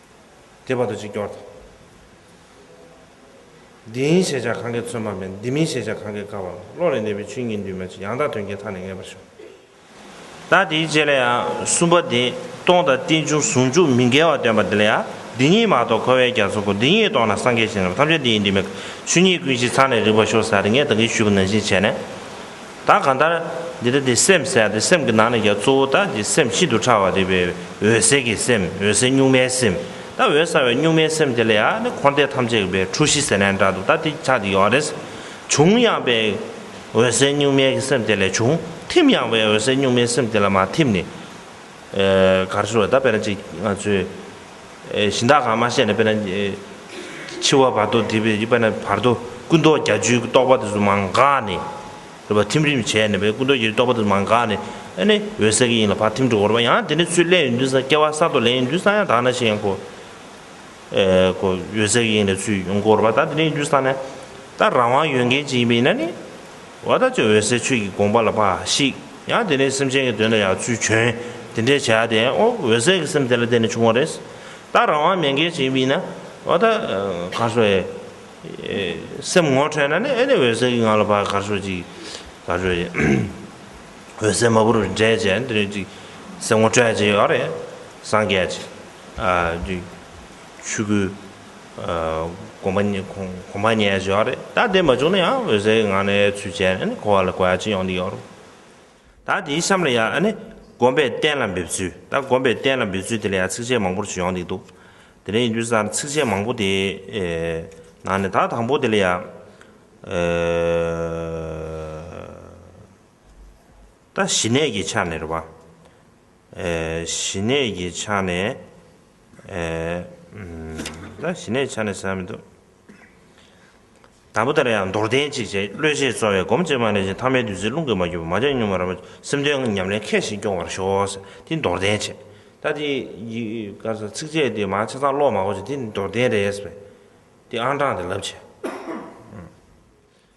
དེ་བར་དུ་གཅིག་སྐྱོར་དང། འདི་ཡིན་ཞེས་བྱ་གང་གིས་མཚོན་པ་མེད། འདི་མིན་ཞེས་བྱ་གང་གིས་བཀག་པ་མེད། བློ་ལས་འདས་པའི་ཆོས་ཉིད་འདུས་མ་བྱས་ཡང་དག་དོན་གྱི་མཐའ་ནི་ངེས་པར་ཞུགས། ད་དེའི་རྗེས་ལ་ཡང་གསུམ་པ་དེ་སྟོང་དང་རྟེན་འབྱུང་ཟུང་འཇུག་མི་འགལ་བར་སྟོན་པ་འདི་ལ་ཡང་འདི་ཉིད་མ་གཏོགས་འཁོར་བའི་རྒྱ་མཚོ་ཀུན་འདི་ཉིད་རྟོགས་ན་སངས་རྒྱས་ཞིང་རྣམས་ཐམས་ཅད་འདི་ཡིན་འདི་མེད། ཆོས་ཉིད་ཀུན་གཞི་ཚང་ནས་རིག་པ་ཤོ་ས་རེ་ངས་བདག་གིས་ཞུས་པ་ནང་བཞིན་བྱས་ནས། ད་གང་ལྟར། འདི་ལྟ་སྟེ་སེམས་གསལ་ཏེ་སེམས་ཀྱི་ནང་ནས་ཀྱང་གཙོ་བོ་ལྟ་ཅི་སེམས་ཤིན་ཏུ་ཕྲ་བ་རིག་པའི་འོད་གསལ་གྱི་སེམས་འོད་གསལ་གཉུག་མའི་སེམས་ལྟ་འོད་གསལ་བའི་གཉུག་མའི་སེམས་དེ་ལ་ཡང་ནི་འཁོར་འདས་ཐམས་ཅད་ཀྱི་པའི་འཁྲུལ་གཞི་ཟེར་ན་ཡང་འདྲ་འདུག་ད་དེ་ཆ་དེ་ཡོད་རེད། བྱུང་ཡང་པའི་འོད་གསལ་གཉུག་མའི་གི་སེམས་དེ་ལས་བྱུང། ཐིམ་ཡང་པའི་འོད་གསལ་གཉུག་མའི་སེམས་དེ་ལ་མ་ཐིམ་ནས། གར་ཤོར་བས་ད་དཔེར་ན་ཅིག་ང་ཚོས། གཞི་བདག་གང་མ་ཤེས་ན་དཔེར་ན། འཆི་བ་བར་དོ་དེ་བས་ན་བར་དོ་ཀུན་རྟོག་བརྒྱ་བཅུའི་རྟོག་པ་དེ་ཚོ་མ་འགགས་ནས། རེད་པ་ཐིམ་རིམ་བྱས་ནས་པས་ཀུན་རྟོག་བརྒྱད་ཅུའི་རྟོག་པ་དེ་ཚོ་མ་འགགས་ནས། ཨེ་ནས་འོད་གསལ་གྱི་དབྱིངས་ལ་བར་ཐིམ་འགྲོ་འོར་བ་ཡང་དེ་ནས་ཚུར་སླད་ཡོན་ཏན་སངས་སྐྱེ་བ་གསར་དུ་ལེན་ཡོན་ཏན་སངས་ཡང་དག་ན་ཞེས་ཡང་གོ། གོ། འོད་གསལ་གྱི་དབྱིངས་ལས་ཚུར་ཡོང་འགོ་འོར་བ་ད་དེ་ནས་ཡོན་ཏན་སངས་ནས། ད་རང་དབང་ཡོད་མཁན་ཅིག་ཡིན་པས་ན་ནི། བ་དག་ཅིག་འོད་གསལ་ཆོས་ཀྱི་དགོངས་པ་ལ་འབའ་ཤིག། ཡང་དེ་ནས་སེམས་ཅན་གྱི་དོན་ལ་ཡང་ཚུལ་བྱོན། དེ་འདྲའི་བྱ་དེ་ཨོ་འོད་གསལ་གྱི་སེམས་དེ་ལ་བརྟེན་ནས་བྱུང་བ་རེད། ད་རང་དབང་མེད་མཁན་ཞིག་ཡིན་པ་ཡིན་ན། བ་དག། གར་སོང་ཨེ། སེམས་ངོ་འཕྲོད་ན་ནི་ཨེ་ནི་འོད་གསལ་གྱི་ངང་ལ་བ་གར་སོང་ཅིག། གར་སོང་ཨེ། འོད་གསལ་མ་བུ་རུ་འདྲེན་བྱས་ན་དེ་རིང་ཅིག། སེམས་ངོ་སྤྲོད་ཅིག་ཨ་རེ། སངས་རྒྱས་ཀྱི། ཆོས་སྐུ། གོ་མ་ཉན་གོ་མ་ཉན་ཟེར་བ་རེད་ད་དེ་མ་བྱུང་ན་ཡང་འོད་ཟེར་ངང་ནས་ཚུལ་བྱས་ནས་ནི་གོ་བ་ལ་གོ་ཡ་ཅི་ཡོང་འདི་ཡོང་རུང། ད་དེའི་གཤམ་ལ་ཡང་ནི་སྒོམ་པའི་གཏན་ལ་འབེབས་ཚུལ་ད་སྒོམ་པའི་གཏན་ལ་འབེབས་ཚུལ་དེ་ལ་ཡང་ཚིགས་བཅད་མང་པོར་བྱོན་ཡོང་འདི་འདུག་དེ་ནས་ཡིན་དུས་སུ་ད་ཚིགས་བཅད་མང་པོ་དེའི་ནང་ནས་ད་དང་པོ་དེ་ལ་ཡང། ད་ཞི་གནས་ཀྱི་ཆ་ནས་རེད་བ། ཞི་གནས་ཀྱི་ཆ་ནས། ད་ཞི་གནས་ཆ་ནས་བསམ་མི་འདུག། དང་པོ་ལྟར་ཡང་མདོར་བསྟན་གཅིག་བྱས་བློས་བྱས་རྩོལ་བས་སྒོམ་བྱེད་མ་ལས་ཀྱི་ཐ་མའི་བདུད་རྩིའི་རླུང་གིས་མ་གྱུར་པ་མ་བྱས་གཉུག་མ་རང་བབས་སེམས་དོན་ཉམས་ལེན་མཁས་ཤིང་སྐྱོང་བར་ཤོག། འདི་མདོར་བསྟན་བྱས། ད་འདི་ཡི་ཚིགས་བཅད་འདི་མ་ཆ་ཚང་ཀློག་མ་གོ་ཅིག་འདི་མདོར་བསྟན་རེད། འདི་ཨང་གྲངས་འདི་ལབ་བྱས།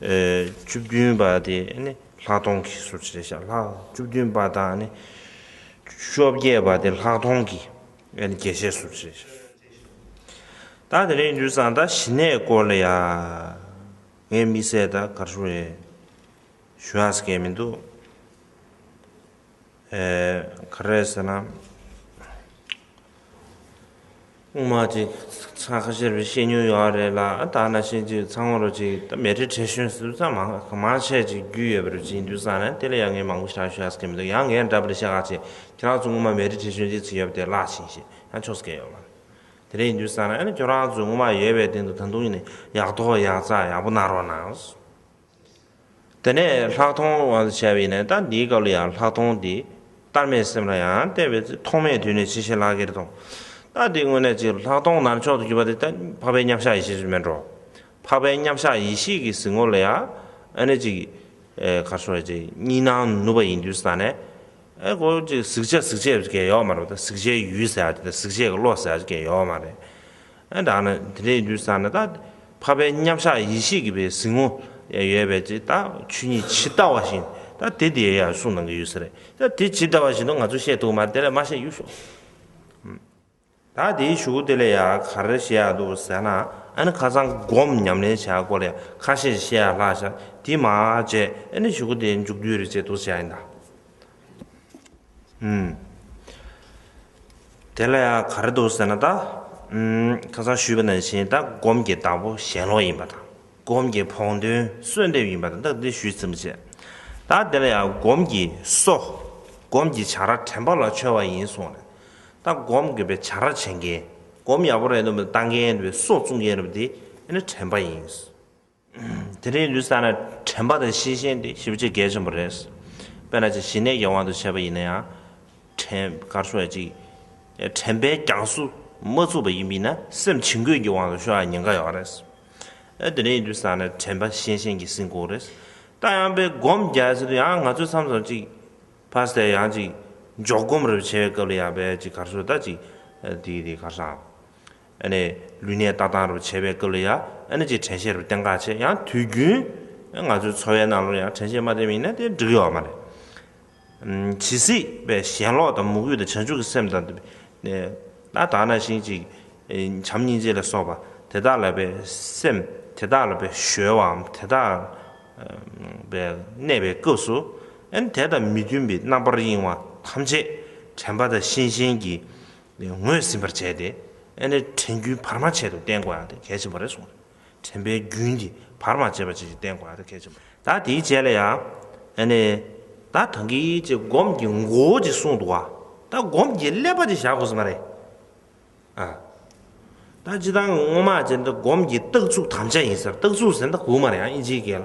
བཅུ་བདུན་པ་དེ་ནི་ལྷག་མཐོང་གི་སོར་ཕྱེ་རེད་བཞག་ལྷག་བཅུ་བདུན་པ་དང་ནི། བཅོ་བརྒྱད་པ་དེ་ལྷག་མཐོང་གི་རྒྱས་བཤད་སོར་ཕྱེ་རེད་བཞག། ད་དེ་རིང་འཇུ་བཟང་དང་ཞི་གནས་སྐོར་ལ་ཡང་ངས་དམིགས་བསལ་དང་གར་ཞུ་རེ་ཞུ་ཨ་ཟེར་མཁན་མི་འདུག། ག་རེད་ཟེར་ན། རྔོག་མ་ཅིག་ཚང་ཁ་ཤས་ཤེས་མྱོང་ཡོད་པ་རེད་ལ་ཨ་ད་ན་ཤེས་ཀྱི་ཚང་བོ་རུ་ཅིག་ད་མེ་ཏྲི་བྲེ་ཤོན་སུ་ཚང་མང་གང་མང་བྱས་ཅིག་རྒྱུས་ཡོད་པ་རུ་ཅིག་འདུག་ས་ནས་དེ་ལ་ཡ་ངས་མང་པོ་བྱ་ཤོད་ཡ་ས་ཀི་མི་འདུག་ཡང་ངས་འདྲ་པར་བཤད་ཁ་ཅིག་ཁྱེད་རང་ཚོ་རྔོག་མ་མེ་ཏྲི་བྲེ་ཤོན་ཅིག་ཚིག་ཡོད་པ་དེ་བཀླགས་ཤིང་ཞེས་ཡང་ཆོག་ས་ཀི་ཡོད་མ་རེད་དེ་རེད་འདུག་ས་ནས་ཨ་ནི་ཁྱོད་རང་ཚོས་རྔོག་མ་ཡོད་པའི་སྟེང་དུ་ད་དུང་ཡིན་ནའི་ཡག་ཐོག་ཡག་རྩ་ཡག་པོ་གནང་རོགས་གནང། དེ་ནས་ལྷག་མཐོང་བ་བྱ་བས་ནི་ད་འདིའི་སྐབས་ལ་ཡང་ལྷག་མཐོང་དེ་ལྟར་མེད་སེམས་ལ་ཡང་བལྟས་པས་ཐོག་མེད་དུས་ནས་ཇི་བཞིན་ལག་ཁྱེར་དང། ད་དེའི་དངོས་གནས་ཀྱི་ལྷག་མཐོང་ནར་མཆོག་ཏུ་གྱུར་པ་དེ་ལྟ་འཕགས་པའི་མཉམ་གཞག་ཡེ་ཤེས་སུ་མེད་འགྲོ། འཕགས་པའི་མཉམ་གཞག་ཡེ་ཤེས་ཀྱི་གཟིགས་ངོར་ལ་ཡང་ཨ་ནི་ཅིག། གར་སོང་བས་ཅིག་གཉིས་སྣང་ནུབ་པ་ཡིན་དུས་སུ་ད་ནི། ཨེ་གོ་ཅིག་གཟིགས་བྱ་གཟིགས་བྱེད་ཀྱི་ཡོད་མ་རེད་པ་ད་གཟིགས་བྱའི་ཡུལ་ཟེར་བ་དེ་ད་གཟིགས་བྱེད་ཀྱི་བློ་ཟེར་བ་ཅིག་ཡོད་མ་རེད། ཨ་དག་ན་དེ་འདྲའི་འདུན་ས་ན་དག་འཕགས་པའི་མཉམ་བཞག་ཡེ་ཤེས་ཀྱི་བའི་གཟིགས་མོ་ཡང་ཡོད་པས་ཅི་ད་ཆུ་གཉིས་ཇི་ལྟ་བ་བཞིན་དག་དེ་དེ་ཡང་གསུངས་གནང་གི་ཡོད་ས་རེད་ད་དེ་ཇི་ལྟ་བ་བཞིན་དུ་ང་ཚོ་བཤད་འདུག་མ་དེ་ལས་མ་བཤད་ཡུལ་ཤོག་ད་དེའི་ཞུ་དགུ་དེ་ལས་ཡང་ག་རེ་བཤད་ཡག་འདུག་ཟེར་ན་ཨ་ནི་ཁ་སང་སྒོམ་ཉམས་ལེན་བྱས་སྐོར་ལས་ཁ་ཤས་བཤད་ཡག་ལྷག་ཤག་དེ་མ་བྱས་ཨ་ནི་ཞུ་དགུ་དེ་མཇུག་བསྡུས་རེ་བྱས་འདུག་བྱས་ཡིན་དག། དེ་ལ་ཡང་ག་རེ་འདུག་ཟེར་ན་ད། ཁ་སང་ཞུས་པ་ནང་བཞིན་ད་སྒོམ་གྱི་བདག་པོ་ཞེན་ལོག་ཡིན་པ་དང། སྒོམ་གྱི་བོགས་འདོན་གསོས་འདེབས་ཡིན་པ་དང་ད་འདི་ཞུས་ཟིན་པ་བྱས། ད་དེ་ལ་ཡང་སྒོམ་གྱི་གསོ། སྒོམ་གྱི་བྱ་ར་དྲན་པ་ལ་འཆོལ་བ་ཡིན་གསུངས་ནས། ད་སྒོམ་དགོས་པའི་བྱ་ར་བྱེད་མཁན། སྒོམ་ཡག་པོ་རེད་འདུག་པ་ལྟ་མཁན་རེད་པས་གསོ་བཙུགས་མཁན་རེད་པ་དེ་ནི་དྲན་པ་ཡིན། དེ་རིང་ལུས་བསགས་ནས་དྲན་པ་དང་ཤེས་བཞིན་དེ་ཞིབ་བྱེད་གལ་ཆེན་པོ་རེད། དཔེར་ན་ཅིག་ཞི་གནས་ཀྱི་དབང་དུ་བྱས་པ་ཡིན་ན་ཡང། དྲན་པར་ཤོག་ཅིག། དྲན་པའི་རྒྱང་སུ་མ་ཚུགས་པ་ཡིན་པས་ན་སེམས་བྱིང་རྒོད་ཀྱི་དབང་དུ་ཤོག་ཡང་ཉེན་ཁ་ཡོད་རེད། དེ་རིང་ལུས་བསགས་ནས་དྲན་པ་ཤེས་བཞིན་གྱི་སེམས་ཁུག་རེད། རྟ་ཡང་པས་སྒོམ་རྒྱག་ཟེར་དུས་ཡང་ང་ཚོས་མཚམས་སུ་ཅིག། ཕར་ཟད་ཡང་ཅིག། འཇོག་སྒོམ་རེ་བྱེད་པའི་སྐབས་ལ་ཡང་པས་ཅིག་གར་སོང་ད་ཅིག། དེ་ཡིན་དེ་གར་སོང་ཨང། ཨ་ནི་ལུས་ནད་ལྟ་སྟངས་རུ་བྱེད་པའི་སྐབས་ལ་ཡ་ཨ་ནི་ཅིག་དྲན་ཤེས་རུ་བསྟེན་ཁག་ཆེ་ཡང་དུས་རྒྱུན་ང་ཚོའི་འཚོ་བའི་ནང་ལོ་ཡང་དྲན་ཤེས་མ་བསྟེན་མིན་ན་དེ་འགྲིག་ཡོད་མ་རེད། ཇི་སྲིད་པའི་ཞེན་ལོག་དང་མུ་གེ་དང་བྱང་ཆུབ་ཀྱི་སེམས་དང། ད་དག་ན་ཞིང་ཅིག་བྱམས་སྙིང་རྗེ་ལ་སོགས་པ་དེ་དག་ལ་བའི་སེམས་དེ་དག་ལ་བའི་གཞོལ་བའམ་དེ་དག་བའི་གནས་པའི་སྐབས་སུ་ཨ་ནི་དེ་དང་མི་མཐུན་པའི་རྣམ་པར་གཡེང་བ་ཐམས་ཅད་དྲན་པ་དང་ཤེས་བཞིན་གྱི་ལས་ངོས་ཟིན་པར་བྱས་ཏེ་ཨེ་ནས་དྲན་རྒྱུན་བར་མ་ཆད་དུ་བསྟེན་དགོས་ཡང་དེ་གལ་ཆེན་པོ་རེད་གསུངས། དྲན་པའི་རྒྱུན་གྱིས་བར་མ་ཆད་པ་བཅས་ཀྱིས་བསྟེན་དགོས་ཡང་དེ་གལ་ཆེན་པོ་རེད། ད་དེའི་རྗེས་ལ་ཡང་ཨེ་ནས་ད་དང་གིས་ཅེས་སྒོམ་གྱི་མགོ་བོ་ཅིག་གསུངས་འདུག་བ་ད་སྒོམ་གྱི་ཀླད་པ་ཅིག་བཞག་དགོས་ས་མ་རེད། ཨ་ད་ཅི་ད་སྔོན་མ་ཅེས་ད་སྒོམ་གྱི་རྟགས་ཚུགས་དམ་བཅའ་ཡིན་སར་རྟགས་ཚུགས་ཟེར་ད་གུག་མ་རེད་ཨ་ཨིན་ཇིའི་སྐད་ལ།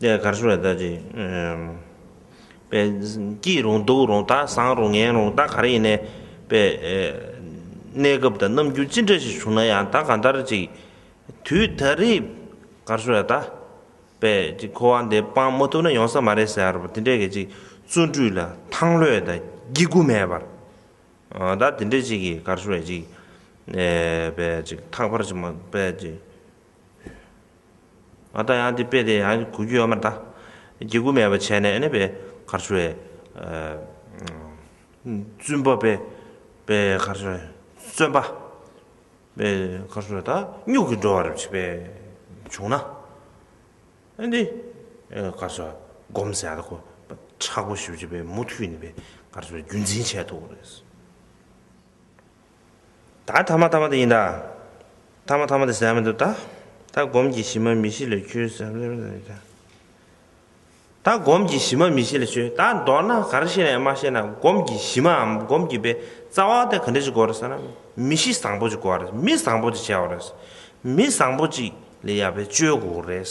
ལས་གར་ཤོར་བའི་ལྟ་ཅི། པས། སྐྱིད་རུང་སྡུག་རུང་དག་བཟང་རུང་ངན་རུང་ད་ག་རེ་ཡིན། པས། གནས་སྐབས་དང་རྣམ་འགྱུར་ཅི་འདྲ་ཞིག་བྱུང་ན་ཡང་ད་ག་ལྟར་ཅིག། དུས་ད་རེས། གར་ཤོར་བའི་ལྟ། པས། ཅིག་འཁོར་བ་འདི་སྤང་མ་ཐུབ་ན་ཡོང་ས་མ་རེད་ཟེར་བ་དེ་འདྲས་གས་ཅིག་བརྩོན་འགྲུས་ལ་ཐང་ལྷོད་དང་སྐྱིད་རྒུ་མེད་པར། ད་དེ་འདྲས་ཅིག་གིས་གར་ཤོར་བས་ཅིག། པས། ཅིག་ཐག་པར་ཅིག་མ། པས། ཅིག། ང་ད་ཡང་དེ་དཔེ་དེ་ཡང་གོ་རྒྱུ་ཡོད་མ་རེད་ད། དགྱེ་སྒུག་མེད་པ་བྱས་ནས་ཨེ་ནས་པའི་གར་སོ་བའི། བཙུན་པ་པའི་པའི་གར་སོ་བའི་བཙོན་པ། པའི་གར་སོ་བའི་ད་སྨྱུག་གིས་འགྲོ་བ་རེད་བྱས་པའི་བྱུང་ན། ཨེ་འདི་གར་སོ་བ་སྒོམ་ཟེར་ཡག་ཁོ་ཁྲག་པོ་ཞིབ་བྱས་པའི་མུ་མཐུད་ནས་པའི་གར་སོ་བའི་རྒྱུན་འཛིན་བྱས་ཐུབ་རེད། ད་ཐ་མ་ཐ་མ་དེ་ཡིན་ད། ཐ་མ་ཐ་མ་དེ་ཟད་མི་འདུག་ད། ད་སྒོམ་གྱི་གཞི་མ་མི་གཞི་ལས་ཆོས་ཟད་མི་འདུག་ད། ད་སྒོམ་གྱི་གཞི་མ་མི་གཞི་ལས་ཆོས་ད་མདོར་ན་ག་རེ་ཤེས་ནའི་མ་ཤེས་ན་སྒོམ་གྱི་གཞི་མའམ་སྒོམ་གྱི་པའི་རྩ་བ་དེ་ག་འདྲ་ཅིག་གོ་རེད་ཟེར་ན་མི་གཞི་བཟང་པོ་ཅིག་གོ་བ་རེད་མི་བཟང་པོ་ཅིག་བྱས་བ་རེད། མི་བཟང་པོ་ཅིག་ལས་ཡག་པའི་སྤྱོད་གོ་རེད།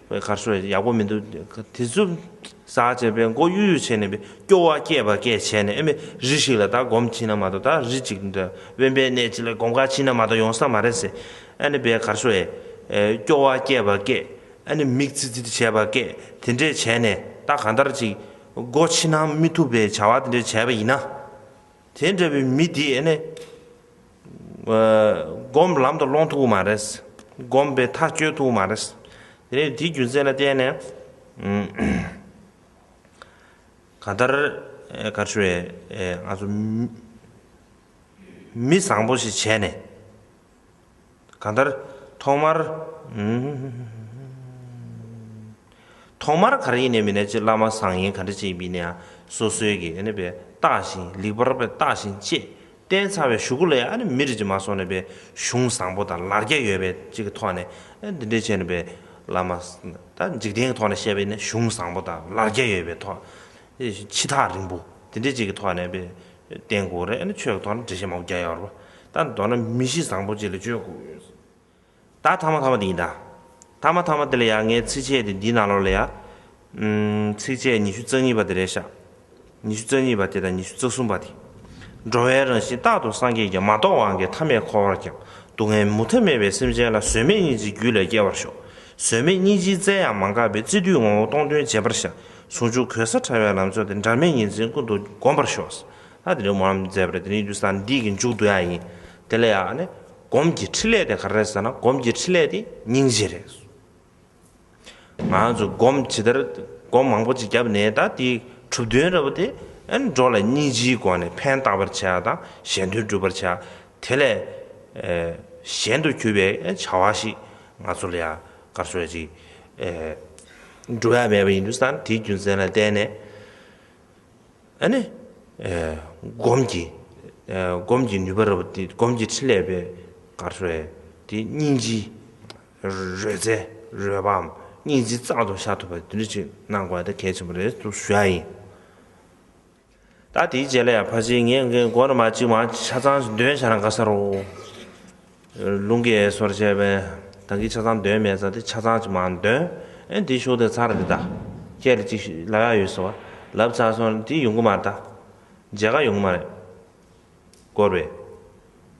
བའི་གར་སོ་ཡག་པོ་མི་འདུག་དེ་ཚོ་ཟ་བྱས་པས་མགོ་གཡུག་གཡུག་བྱས་ནས་པའི་སྐྱོ་བ་སྐྱེས་པ་སྐད་བྱས་ནས་ཨེ་མེད་རི་ཞིག་ལ་ད་སྒོམ་ཕྱིན་ན་མ་གཏོགས་ད་རི་ཅིག་འདྲ་དབེན་པའི་གནས་ཅིག་ལ་སྒོམ་ཁར་ཕྱིན་ན་མ་གཏོགས་ཡོང་ས་མ་རེད་ཟེར་ཨ་ནི་པའི་གར་སོ་ཨེ་སྐྱོ་བ་སྐྱེས་པ་སྐད་ཨེ་ནི་མིག་ཚིག་ཚིག་བྱས་པ་སྐད་དེ་འདྲས་བྱས་ནས་ད་གང་ལྟར་ཅིག་སྒོ་ཕྱི་ན་མི་ཐུབ་པའི་བྱ་བ་དེ་འདྲས་བྱས་པ་ཡིན་ན། དེ་འདྲ་བའི་མི་དེས་ཨེ་ནི། སྒོམ་ལམ་དུ་སློང་ཐུབ་པོ་མ་རེད། སྒོམ་པའི་ཐག་གཅོད་ཐུབ་པོ་མ་རེད། དེ་ནས་དེའི་རྒྱུ་མཚན་ལ་བརྟེན་ནས། ག་ལྟར་ག་ཆོས་ང་ཚོ། མི་བཟང་པོ་ཞིག་བྱས་ནས། གང་ལྟར་ཐོག་མར། ཐོག་མར་ག་རེ་ཡིན་ནས་མིན་ན་ཅི་བླ་མ་བཟང་ཡིན་ག་འདྲ་ཅིག་མིན་ན་ཡང་སོ་སོའི་གི་ཨ་ནི་བས་བརྟགས་ཤིང་ལེགས་པར་བས་བརྟགས་ཤིང་དཔྱད་བསྟན་ཚར་བའི་ཞུ་སྒོ་ལས་ཨ་ནི་མི་རིགས་ཀྱི་མ་སོང་ནས་པའི་གཞུང་བཟང་པོ་དང་ལར་རྒྱ་ཡོད་པའི་ཅིག་གི་ཐོག་ནས་ཨ་འདི་འདྲའི་བྱས་ནས་པའི་བླ་མ་ད་འཇིག་རྟེན་གི་ཐོག་ནས་བཤད་པའི་ནི་གཞུང་བཟང་པོ་དང་ལར་རྒྱ་ཡོད་པའི་ཐོག་ཕྱི་ཐག་རིང་པོ་འདི་འདྲའི་ཅིག་གི་ཐོག་ནས་པའི་བསྟན་དགོས་རེད་ཨ་ནི་ཆོས་ཀྱི་ཐོག་ནས་འགྲེལ་བཤད་མང་པོ་རྒྱག་ཡག་རོ་པ་ད་མདོར་ན་མི་གཞི་བཟང་པོ་ཅིག་ལ་བཅོས་དགོས། ད་ཐ་མ་ཐ་མ་དེ་ཡིན་ད། ཐ་མ་ཐ་མ་དེ་ལ་ཡང་ངའི་ཚིགས་བཅད་དེ་འདིའི་ནང་ལོགས་ལ་ཡང། ཚིགས་བཅད་ཉི་ཤུ་རྩ་གཉིས་པ་དེ་རེད་ཤག། ཉི་ཤུ་རྩ་གཉིས་པ་དེ་དང་ཉི་ཤུ་རྩ་གསུམ་པ་དེ། འགྲོ་བའི་རང་བཞིན་རྟག་ཏུ་སངས་རྒྱས་ཀྱང་མ་རྟོགས་བ་འགས་ཐ་མས་འཁོར་བར་ཀྱང་སྡུག་བསྔལ་མུ་མཐའ་མེད་པའི་སེམས་ཅན་ལ་བཟོད་མེད་སྙིང་རྗེའི་རྒྱུད་ལས་སྐྱེ་བར་ཤོག། བཟོད་མེད་སྙིང་རྗེའི་རྩལ་ཡང་མ་འགགས་པས་བརྩེ་བསྡུས་ངོ་བོ་སྟོང་སྟོན་བྱེད་པར་ཤག། ཟུང་འཇུག་གོལ་ས་བྲལ་བའི་ལམ་མཆོག་དེ་འབྲལ་མེད་ཉིན་མཚན་ཀུན་ཏུ་སྒོམ་པར་ཤོག། ལྷ་དེ་རིང་མོ་རམ་མཛད་པར་དེ་རིང་རྒྱུ་ས་འདི་གི་མཇུག་ཏུ་ཡང་ཡིན། དེ་ལ་ཡང་ནི་སྒོམ་གྱི་ཕྲིན་ལས་དེ་ག་རེ་ཟེར་ན་སྒོམ་གྱི་ཕྲིན་ལས་དེ་སྙིང་རྗེ་རེད། ང་ཚོས་སྒོམ་ཇི་ལྟར་སྒོམ་མང་པོ་ཅིག་བརྒྱབ་ནས་ད་དེ་གྲུབ་བསྟུན་ར་བ་དེ་འགྲོ་ལ་སྙིང་རྗེའི་སྒོ་ནས་ཕན་གཏགས་པར་བྱ་དང་གཞན་དོན་སྒྲུབ་པར་བྱ། དེ་ལས་གཞན་དུ་གྱུར་པའི་བྱ་བ་ཞིག་ང་ཚོ་ལ་ཡང་གར་སོ་ཡ་ཅིག་འགྲོ་ཡ་མེད་པ་ཡིན་རྒྱུ་ས་དེའི་རྒྱུ་མཚན་ལ་བརྟེན་ནས། ནི། སྒོམ་གྱི། སྒོམ་གྱི་ནུས་པ་རབ་སྟེ་སྒོམ་གྱི་ཕྲིན་ལས་པའི་གར་སོགས་ཡོད་དེ། སྙིང་རྗེའི། རོལ་རྩལ། རོལ་པའམ་སྙིང་རྗེ་གཙང་དུ་བཞག་ཐུབ་པ་དེ་འདྲ་ཅིག་གནང་དགོས་ད་གལ་ཆེན་པོ་རེད་དུ་ཞུ་ཡ་ཡིན། ད་དེའི་རྗེས་ལ་ཡང་ཕར་ཕྱིན་ངས་མགོ་ན་མ་གཅིག་མ་གཅིག་ཆ་ཚང་འདོན་བྱ་ན་དགའ་ས་རོ། ལུང་གི་ཨེ་སོར་བྱས་པས། གང་གིས་ཆ་ཚང་འདོན་མེད་ས་དེ་ཆ་ཚང་ཅིག་མ་འདོན། ཨེ་འདི་ཤོག་དེ་ཚར་རེ་བདའ། ཁྱེད་ལ་ཅིག་ལབ་ཡག་ཡོད་ཟེར་བ། ལབ་ཚར་སོང་འདི་ཡོང་གི་མ་རེད། མཇལ་ཁ་ཡོང་གི་མ་རེད། སྐོར་བས།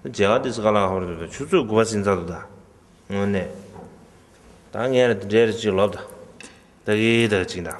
མཇལ་ཁ་འདི་ཚོ་ག་ལ་ཧོར་འདུག་ད་ཆུ་ཚོད་དགུ་བ་ཟིན་ཚར་འདུག་ད། དངོས་གནས། ད་ངས་རེ་འདི་འདྲའི་རེ་ཅིག་ལོབ་ད། ད་གི་ད་གི་ཅིག་འདྲ།